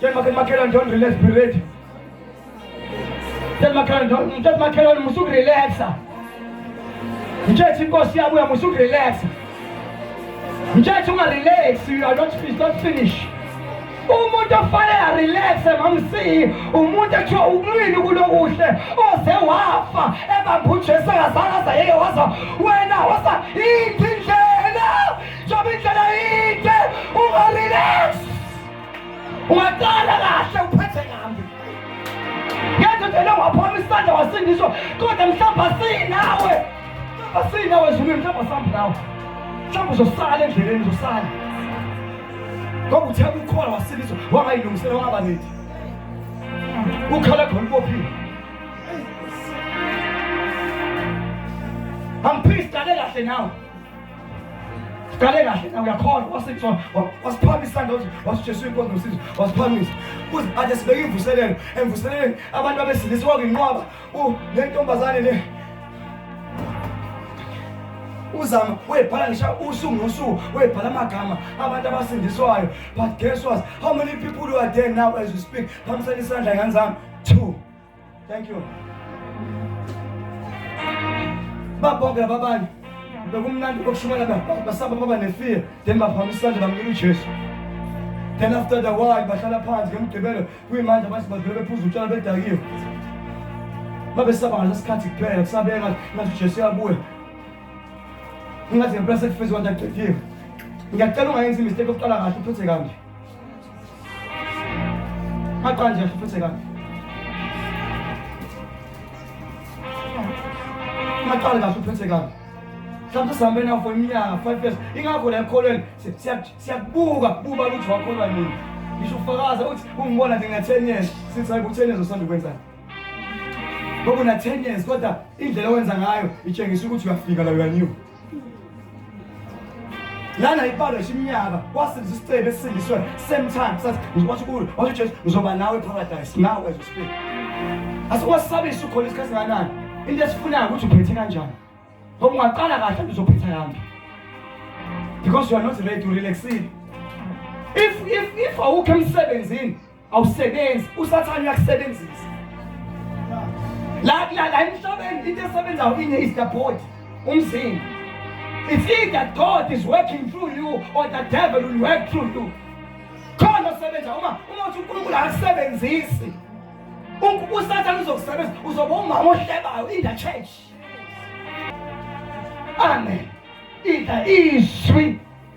Makhelwane don't relax be ready. Makhelwane don't makhelwane musuku relaxa. Mthethe inkosi yabuya musuku relaxa. Mthethe unga relax you are not finished not finish. umuntu ofanele arelaxe mamsiyi umuntu ethiwa ukulwini kulokuhle oze wafa ebambe ujesu engazange aza yeke waza wena wasa yiphi indlela njengoba indlela yide ungarelax Waqala kahle uphethe kambi. Yenza nje lo waphoma isandla wasindiswa kodwa mhlawumbe asinawe. Mhlawumbe asinawe ezulwini mhlawumbe asambi nawe. Mhlawumbe uzosala endleleni uzosala. Ngoba uthe ukukhola wasindiswa wangayilungisela wangaba nethi. Ukhala khona ubophile. Angiphizi dale kahle nawe. Kale kahle na uyakhona wasitshwa wasiphamisa ndothi wasijesu inkonzo usizo wasiphamisa kuze athi sibeke imvuselelo emvuseleleni abantu abesilisa wakwinqwaba u lentombazane le uzama webhala ngisha usuku nosuku webhala amagama abantu abasindiswayo but guess what how many people who are there now as we speak phamisela isandla ngane zami two Thank you. Babonke lababanye bekumnandi kokushumayela basaba baba nefear then baphambisa isandla bamkela uJesu. Then after the while bahlala phansi ngemgqibelo kuyimanje abantu badlule bephuza utshwala bedakiwe. Babesaba ngaleso sikhathi kuphela kusabeka ngathi uJesu uyabuya. Ingathi ngempela sekufezwe kwanto aqediwe. Ngiyacela ungayenzi imistake yokuqala kahle uphethe kambi. Maqanje futhi ka. Maqale kahle uphethe kahle. Mhlawumbe sihambe nawo for iminyaka 5 years. Ingakho la ekholweni siyakubuka kuba ukuthi wakholwa nini. Ngisho ufakaza uthi ungibona nje nga-10 years sithi hayi ku-10 years usanda ukwenzani. Ngoba una-10 years kodwa indlela owenza ngayo itshengisa ukuthi uyafika la uyanew. lana ibalo shimnyaka wasenza isicebe esindiswe same time sathi ngizokwathi kulo wathi uJesu ngizoba nawe paradise now as we speak asikwasabisa ukhona isikhathi kanani into esifunayo ukuthi uphethe kanjani ngoba ungaqala kahle uzophetha kanjani because you are not ready to relaxile if if if awukho emsebenzini awusebenzi usathane uyakusebenzisa la la la emhlabeni into esebenzayo inye is the body umzimba it's either god is working through you or the devil will work through you khona osebenza uma uma uthi unkulunkulu akasebenzisi usathane uzokusebenza uzoba umama ohlebayo in the church amen idla izwi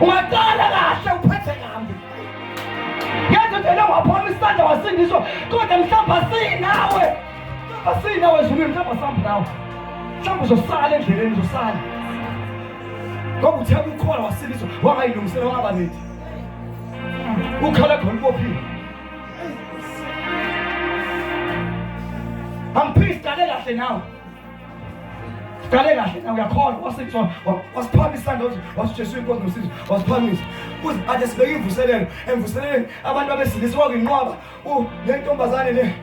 Ungaqala kahle uphethe nami. Yazi vele waphoma isandla wasindiswa kodwa mhlawumbe asinawe. Mhlawumbe asinawe ezulwini mhlawumbe asambi nawe. Mhlawumbe uzosala endleleni uzosala. Ngoba uthe ukukhola wasindiswa wangayilungisela wangaba nethi. Ukhala khona ubophile. Angiphizi qale kahle nawe. Kale kahle na uyakhona wasitshwa wasiphamisa ndothi wasijesu inkonzo nosizo wasiphamisa kuze ade sibeke imvuselelo emvuseleleni abantu abesilisa wakwinqwaba u nentombazane le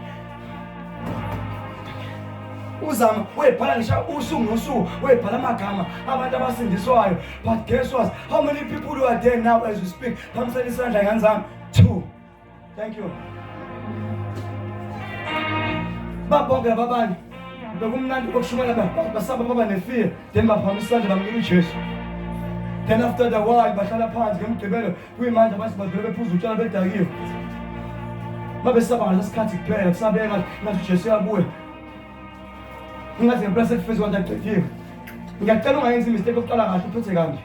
uzama webhala ngisha usuku nosuku webhala amagama abantu abasindiswayo but guess what how many people who are there now as we speak phamisela isandla ngane zami two Thank you. Babonke babani. Bekumnandi kokushumela basaba baba nefear. Then baphamisa isandla bamnika uJesu. Then after the while bahlala phansi ngemgqibelo kuyimanje abantu badlule bephuza utshwala bedakiwe. Babesaba ngalesikhathi kuphela kusabeka ngathi uJesu uyabuya. Ingathi ngempela sekufezwe kwanto agcithiwe. Ngiyacela ungayenzi imistake yokuqala kahle uphethe kanje.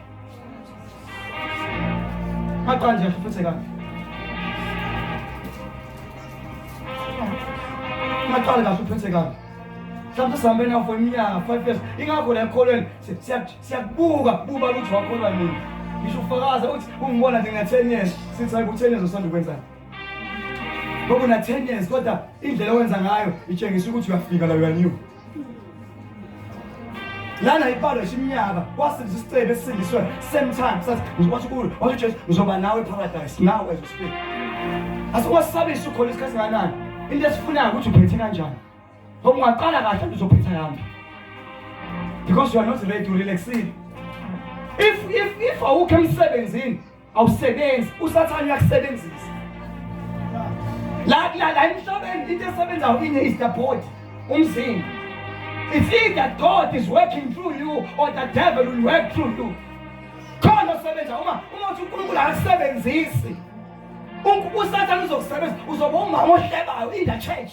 Maqanje futhi kabi. Maqale kahle uphethe kabi. Mhlawumbe sihambe nawo for iminyaka 5 years. Ingakho la ekholweni siyakubuka kubuka ukuthi wakholwa nini. Ngisho ufakaza uthi ungibona nje nga-10 years sithi hayi ku-10 years usanda ukwenzani. Ngoba una-10 years kodwa indlela owenza ngayo itshengisa ukuthi uyafika la uyaniwe. lana ibalo shimnyaka wasenza isicebe esindiswe same time sathi ngizokwathi kulo wathi Jesu ngizoba nawe paradise now as we speak asikwasabisa ukhona isikhathi kanani into esifunayo ukuthi uphethe kanjani ngoba ungaqala kahle uzophetha kanjani because you are not ready to relax if if if awukho emsebenzini awusebenzi usathane uyakusebenzisa la la la emhlabeni into esebenzayo ine is the body umzimba it's either god is working through you or the devil will work through you khona osebenza uma uma uthi unkulunkulu akasebenzisi usathane uzokusebenzisa uzoba umama ohlebayo in the church